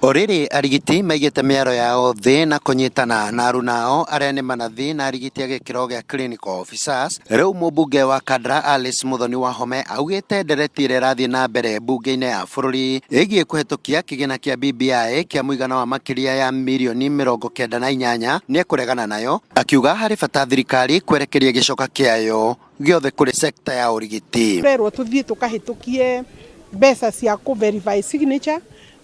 O rĩrĩ arigiti maigĩte mĩaro yao thĩ na kũnyitana na aruna ao arĩa nĩ manathi na arigiti a gĩkĩro gĩa clinical officers, rĩu mũmbunge wa Kandra Alice Muthoni Wahome augĩte ndereti ĩrĩa ĩrathiĩ na mbere mbunge-inĩ ya bũrũri ĩgiĩ kũhetũkia kĩgĩna kĩa BBI kĩa mũigana wa makĩria ya mirioni mĩrongo kenda na inyanya nĩ ekũregana nayo, akiuga harĩ bata thirikari kwerekeria gĩcoka kĩayo gĩothe kũrĩ sekta ya ũrigiti. Tũrerwo tũthiĩ tũkahĩtũkie mbeca cia kũ verify signature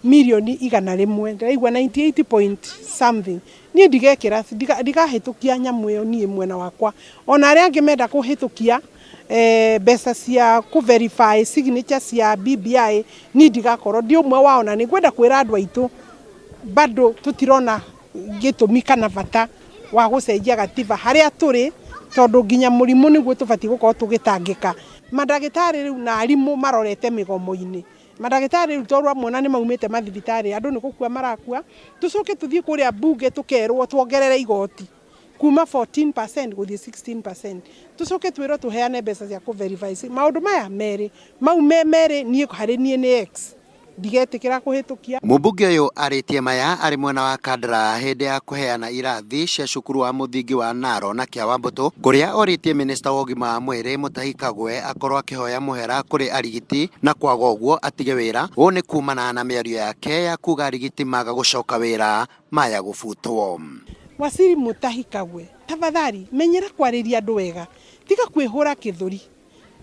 mirioni igana rĩmwe ndĩraigua 98 point something niĩ ndigekĩra ndiga- ndigahĩtũkia nyamũ ĩyo niĩ mwena wakwa ona arĩa angĩ menda kũhĩtũkia eh, mbeca cia kũ verify signature cia BBI niĩ ndigakorwo ndi ũmwe wao na nĩ ngwenda kwĩra andũ aitũ bado tũtirona gĩtũmi kana bata wa gũcenjia gatiba harĩa tũrĩ tondũ nginya mũrimũ nĩguo tũbatiĩ gũkorwo tũgĩtangĩka. Mandagĩtarĩ rĩu na arimũ marorete mĩgomo-inĩ. Mandagĩtarĩ rĩu tondũ ũramuona nĩ maumĩte mathibitarĩ andũ nĩ gũkua marakua, tũcoke tũthiĩ kũrĩa mbunge tũkerwo tuongerere igoti kuma 14% gũthiĩ 16%. Tũcoke twĩrwo tũheane mbeca cia kũ verify. Maũndũ maya merĩ, mau me merĩ niĩ harĩ niĩ nĩ X. ndigetĩkĩra kũhĩtũkia. Mũmbunge ũyũ arĩtie maya arĩ mwena wa Kandara hĩndĩ ya kũheana irathi cia cukuru wa mũthingi wa Naro na Kĩa Wambũtũ kũrĩa orĩtie mĩnĩsta wa ũgima wa mwĩrĩ Mũtahi Kagwe akorwo akĩhoya mũhera kũrĩ arigiti na kwaga ũguo atige wĩra, ũũ nĩ kumana na mĩario yake ya kuga arigiti maga gũcoka wĩra maya gũbutwo. Waziri Mũtahi Kagwe, tafadhali menyera kwarĩria andũ wega, tiga kwĩhũra kĩthũri.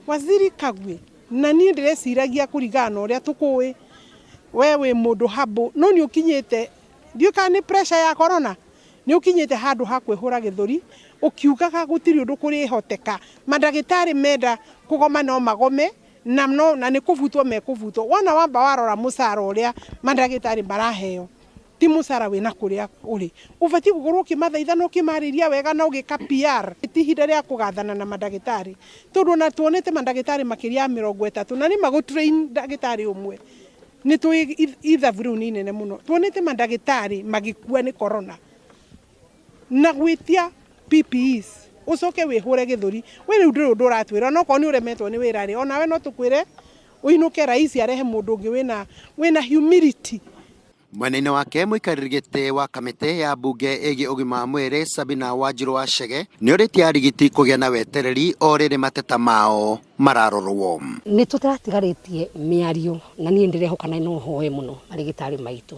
Waziri Kagwe, Na niĩ ndĩreciragia kũringana na ũrĩa tũkũũĩ, wee wĩ mũndũ humble, no nĩ ũkinyĩte, ndiũĩ kana nĩ pressure ya Corona, nĩ ũkinyĩte handũ ha kwĩhũra gĩthũri ũkiugaga gũtirĩ ũndũ kũrĩhoteka, mandagĩtarĩ menda kũgoma no magome na no na nĩ kũbutwo mekũbutwo. Wona wamba warora mũcara ũrĩa mandagĩtarĩ maraheo, Ti mũcara wĩ na kũrĩa ũrĩ. Ũbatiĩ gũkorũo ũkĩmathaitha na ũkĩmarĩria wega na ũgĩka PR. Ti ihinda rĩa kũgathana na mandagĩtarĩ, tondũ o na tuonete mandagĩtarĩ makĩria ya mĩrongo ĩtatũ na nĩ ma gũtrain ndagĩtarĩ ũmwe nĩ tũĩ ithabu rĩu nĩ inene mũno. Tuonete mandagĩtarĩ magĩkua nĩ corona na gwĩtia PPEs. Ũcoke wĩhũre gĩthũri we rĩu ndũrĩ ũndũ ũratwĩra. O na okorũo nĩ ũremetwo nĩ wĩra rĩ, o nawe no tũkwĩre ũinũke Rais arehe mũndũ ũngĩ wĩ na wĩ na humility. Mwena-inĩ wake mũikarĩri gĩtĩ wa kamĩtĩ ya mbunge ĩgiĩ ũgima wa mwĩrĩ Sabina Wanjirũ wa Chege nĩorĩtie arigiti kũgĩa na wetereri o rĩrĩ mateta mao mararorwo. Nĩtũtatigarĩtie mĩario na niĩ nĩndĩrehoka na no hoe mũno arĩgĩtarĩ maitũ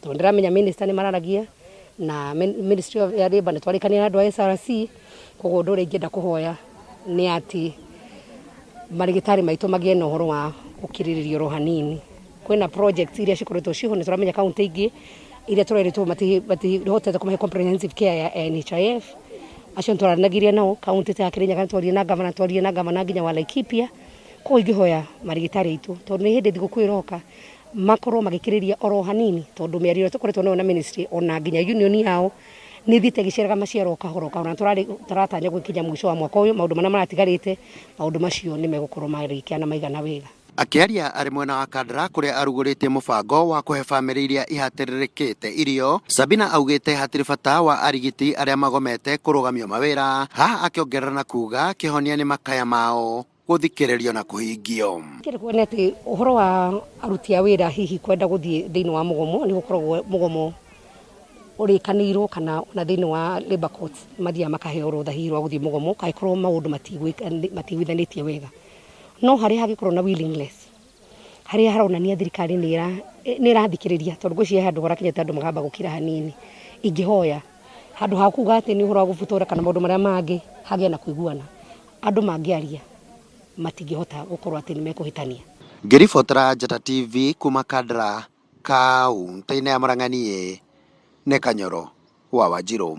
tondũ nĩndĩramenya minister nĩmararagia na ministry of ya labour nĩtwarĩkanĩire na andũ a SRC koguo ũndũ ũrĩa ingĩenda kũhoya nĩ atĩ marĩgĩtarĩ maitũ magĩe na ũhoro wa gũkirĩrĩria oro hanini kwina projects iria cikoretwo ciho nä tåramenya kauntä ingä iria tå rerätwo matihotete kå mahe comprehensive care ya ya NHIF acio nä twaranagirie nao kauntä ta ya Kĩrĩnyaga nĩ twaririe na ngavana twaririe na ngavana nginya wa Laikipia koguo ingĩhoya marigĩtarĩ aitũ tondũ nĩ hĩndĩ thigũkũ ĩroka makorwo magĩkĩrĩria oro hanini tondũ mĩario ĩrĩa tũkoretwo nayo na ministry ona nginya union yao nä thiä te gä ciaraga maciaro o kahora o kahora na tũrarĩ- tũratanya gwä kinya må ico wa mwaka å yå maå ndå marä a maratigarä te maå ndå macio nä megåkorwo marä kiana maigana wega Akĩaria arĩ mwena wa Kandara kũrĩa arugũrĩtie mũbango wa kũhe famĩlĩ iria ihatĩrĩrĩkĩte irio, Sabina augĩte hatirĩ bata wa arigiti arĩa magomete kũrũgamio mawĩra, haha akĩongerera na kuga kĩhonia nĩ makaya mao gũthikĩrĩrio na kũhingio. Kĩrĩkuo nĩ atĩ ũhoro wa aruti a wĩra hihi kwenda gũthiĩ thĩinĩ wa mũgomo nĩ gũkoragwo mũgomo ũrĩkanĩirwo kana ona thĩinĩ wa labour courts mathiaga makaheo rũtha hihi rwa gũthiĩ mũgomo angĩkorwo maũndũ matigwĩka matigwithanĩtie wega. no harĩa hangĩkorwo na willingness harĩa haronania thirikari nĩ ĩra- ĩ- nĩ ĩrathikĩrĩria tondũ ngwĩciria he handũ horakinyĩte andũ makamba gũkira hanini ingĩhoya handũ ha kuga atĩ nĩ ũhoro wa gũbutora kana maũndũ marĩa mangĩ hagĩa na kũiguana andũ mangĩaria matingĩhota gũkorwo atĩ nĩ mekũhĩtania ngĩribotera njata tv kuma kandara kaunti-inĩ ya murang'a niĩ nĩ kanyoro wa wanjirũ